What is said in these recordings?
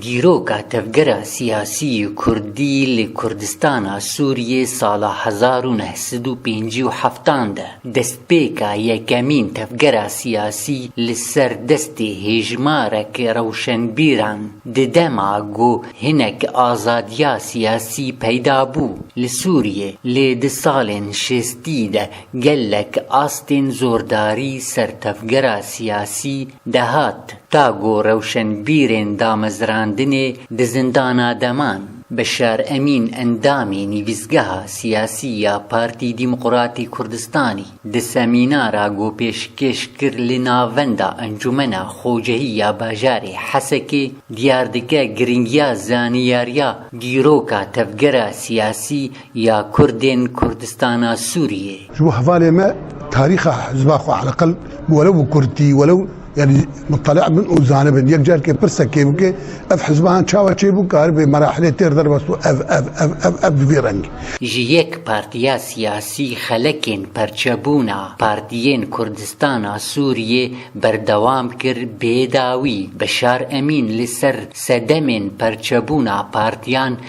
Dîroka tevgera siyasî kurdî li Kurdistana Sûriyê sala hezar û neh sed û pêncî û heftan de destpêka yekemîn tevgera siyasî li ser destê hêjmarek rewşenbîran di dema ku hinek azadiya siyasî peyda bû li Sûriyê lê di salên şêstî de gelek astên zordarî ser tevgera siyasî dehat Ta ku rewşenbîrên damezrandinê di zindana deman, Beşar Emîn endamê nivîsgeha siyasî ya Partî Dîmqratî Kurdistanî di semînara ku pêşkêş kir li navenda Encûmena Xocehî ya Bajarê Hesekê diyar dike girîngiya zaniyariya dîroka tevgera siyasî ya Kurdên Kurdistana Sûriyê. Ji bo hevalê me tarîxa hizba xwe heleqil welew bi kurdtî welew yanî mutele'a bin û zanibin. Yek carkê pirse kê bike ev hizbahan çawa çêbû ka heribê merahilê têr derbas û ev ev ev ev ev di vî rengî. Ji yek partiya siyasî xelekên perçebûna Partiyên Kurdistana Sûriyê berdewam kir bê dawî Beşar Emîn li ser sedemên perçebûna partiyan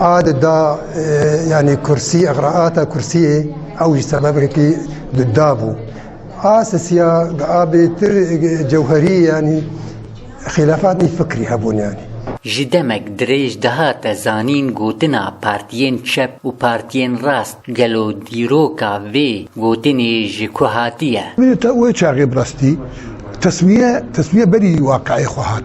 Ad da yani kursî egraata kursiyê ew jî sebebekî di da bû. A sisiya di a bêtir cewherî yani xîlefatî fikrî hebûn yani. Ji demek dirêj dihate zanîn gotina partiyên çep û partiyên rast gelo dîroka vê gotinê ji ku hatiye? Wê çaxê bi rastî teswiye teswiye berî waqeê xwe hat.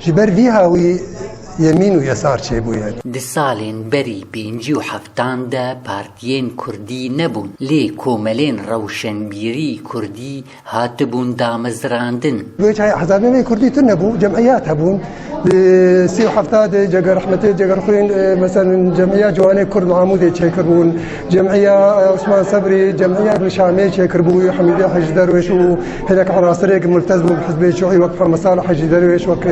Ji ber vî hawî yemîn û yesar çêbûye. Di salên berî pêncî û heftan de partiyên kurdî nebûn, lê komelên rewşenbîrî kurdî hatibûn damezrandin. Wê çayê hezabê me kurdî tune bû, cemîyat hebûn. Di sî û hefta de Cega Rehmetê, Cega Rixwîn, meselin cemîyat ciwanê kurd li Amûdê çêkiribûn. Cemîya Osman Sebrî cemîya li Şamê çêkiribû Hemîdê Hecî Derwêş û hinek erasirêk miltez bû bi hizbê Şûî wek Pemesal Hecî Derwêş wek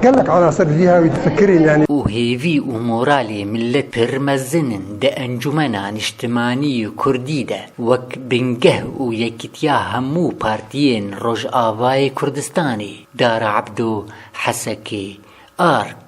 gelek erasir bi vî hawî difikirîn yanî. û hêvî û moralê milet pir mezin in di Encûmena Nîştimanî yê Kurdî de wek bingeh û yekîtiya hemû partiyên Rojavayê Kurdistanê, Dara Ebdo, Hesekê, ark.